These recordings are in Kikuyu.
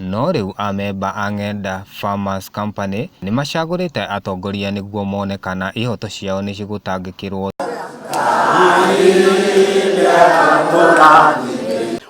No rĩu amemba a Ng'enda Farmers Company nĩmacagũrĩte atongoria nĩguo mone kana ihoto ciao nĩcigũtangĩkĩrwo.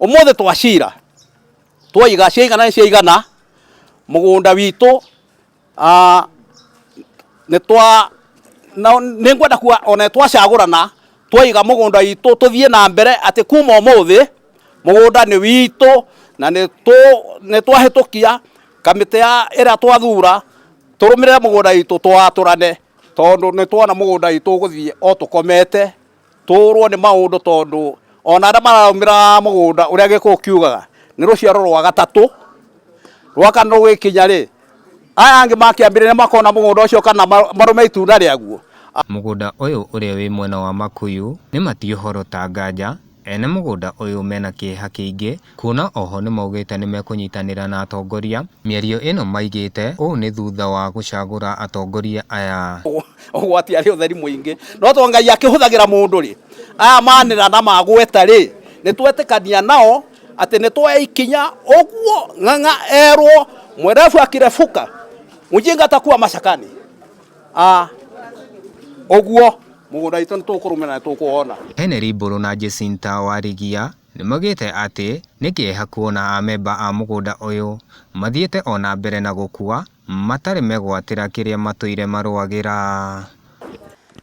Ũmũthĩ twacira twaiga ciaigana nĩ ciaigana mũgũnda witũ. Nĩ ngwenda kuga o na nĩ twacagũrana twaiga mũgũnda witũ tũthiĩ na mbere atĩ kuma ũmũthĩ mũgũnda nĩ witũ na nĩ twahĩtũkia kamĩtĩ ĩrĩa twathura tũrũmĩrĩre mũgũnda witũ tũwatũrane tondũ nĩ tuona mũgũnda witũ ũgũthiĩ o tũkomete. Tũũrwo nĩ maũndũ tondũ ona arĩa maraũmĩra mũgũnda ũrĩa gĩkũyũ kiugaga nĩ rũciaro rwa gatatũ, rwa kana rũgĩkinya rĩ, aya angĩ makĩambĩrĩria makona mũgũnda ũcio kana marũme itunda rĩaguo. Mũgũnda ũyũ ũrĩa wĩ mwena wa Makuyu nĩ Matiu Horo Tanganja, ene mũgũnda ũyũ mena kĩeha kĩingĩ Kuona oho nĩmaugĩte nĩmekũnyitanĩra na atongoria. Mĩario ĩno maigĩte ũũ nĩ thutha wa gũcagũra atongoria aya. Ũgwati arĩ ũtheri mũingĩ. No to Ngai akĩhũthagĩra mũndũ rĩ, aya manĩra na magweta rĩ, nĩtwetĩkania nao atĩ nĩtwoya ikinya, ũguo Ng'ang'a erwo mwerevu akirefuka, mjinga atakuwa mashakani. Aah ũguo mũgũnda witũ nĩtũkũrũmĩrĩra na nĩtũkũwona. Heneri Mbũrũ na Jacinta Warigia. Nĩmaugĩte atĩ nĩ kĩeha kuona amemba a mũgũnda ũyũ mathiĩte ona mbere na gũkua matarĩ megwatĩra kĩrĩa matũire marũagĩra.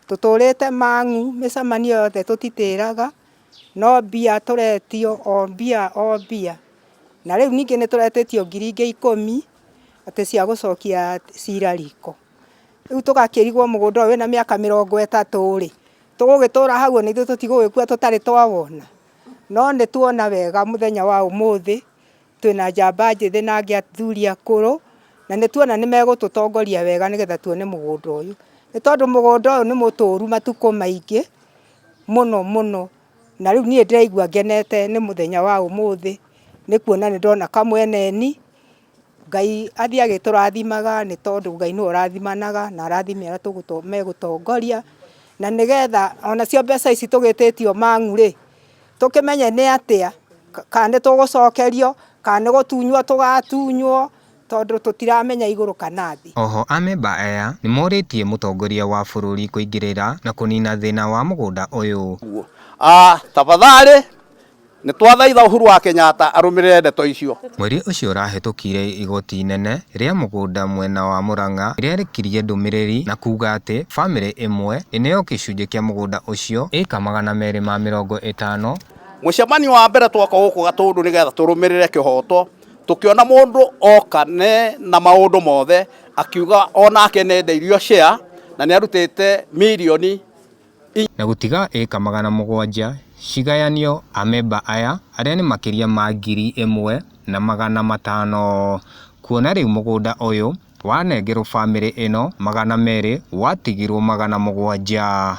Tũtũrĩte mang'u mĩcemanio yothe tũtitĩraga, no mbia tũretio o mbia o mbia. Na rĩu ningĩ nĩtũretĩtio ngiri ingĩ ikũmi atĩ cia gũcokia cira riko. Rĩu tũgakĩrigwo mũgũnda ũyũ wĩna mĩaka mĩrongo ĩtatũ rĩ, tũgũgĩtũra hau ona ithuĩ tũtigũgĩkua tũtarĩ twawona? No nĩ tuona wega mũthenya wa ũmũthĩ, twĩna njamba njĩthĩ na athuri akũrũ, na nĩ tuona nĩ megũtũtongoria wega nĩgetha tuone mũgũnda ũyũ. Nĩ tondũ mũgũnda ũyũ nĩ mũtũru matukũ maingĩ mũno mũno, na rĩu niĩ ndĩraigua ngenete nĩ mũthenya wa ũmũthĩ, nĩ kuona nĩ ndona kamweneni. Ngai athiĩ agĩtũrathimaga nĩ tondũ Ngai nĩwe ũrathimanaga na arathime arĩa megũtongoria, na nĩgetha onacio mbeca ici tũgĩtĩtio mang'u rĩ, tũkĩmenye nĩ atĩa, kana nĩ tũgũcokerio, kana nĩ gũtunywo tũgatunywo, tondũ tũtiramenya igũrũ kana thĩ. Oho amemba aya nĩmorĩtie mũtongoria wa bũrũri kũingĩrĩra na kũnina thĩna wa mũgũnda ũyũ. Tafadhali Nĩ twathaitha Uhuru wa Kenyatta arũmĩrĩre ndeto icio. Mweri ũcio ũrahĩtũkire igoti inene rĩa mũgũnda mwena wa Murang'a nĩ rĩarĩkirie ndũmĩrĩri na kuuga atĩ famĩlĩ ĩmwe ĩneo gĩcunjĩ kĩa mũgũnda ũcio, ĩĩka magana merĩ ma mĩrongo ĩtano. Mũcemanio wa mbere twoka gũkũ Gatũndũ nĩ getha tũrũmĩrĩre kĩhooto, tũkĩona mũndũ oka nĩ na maũndũ mothe, akiuga o nake nĩ enderio share na nĩ arutĩte mirioni. na gũtiga ĩĩka magana mũgwanja cigayanio amemba aya arĩa nĩ makĩria ma ngiri ĩmwe na magana matano kuona rĩu mũgũnda ũyũ wanengerwo bamĩrĩ ĩno magana merĩ watigirwo magana mũgwanja.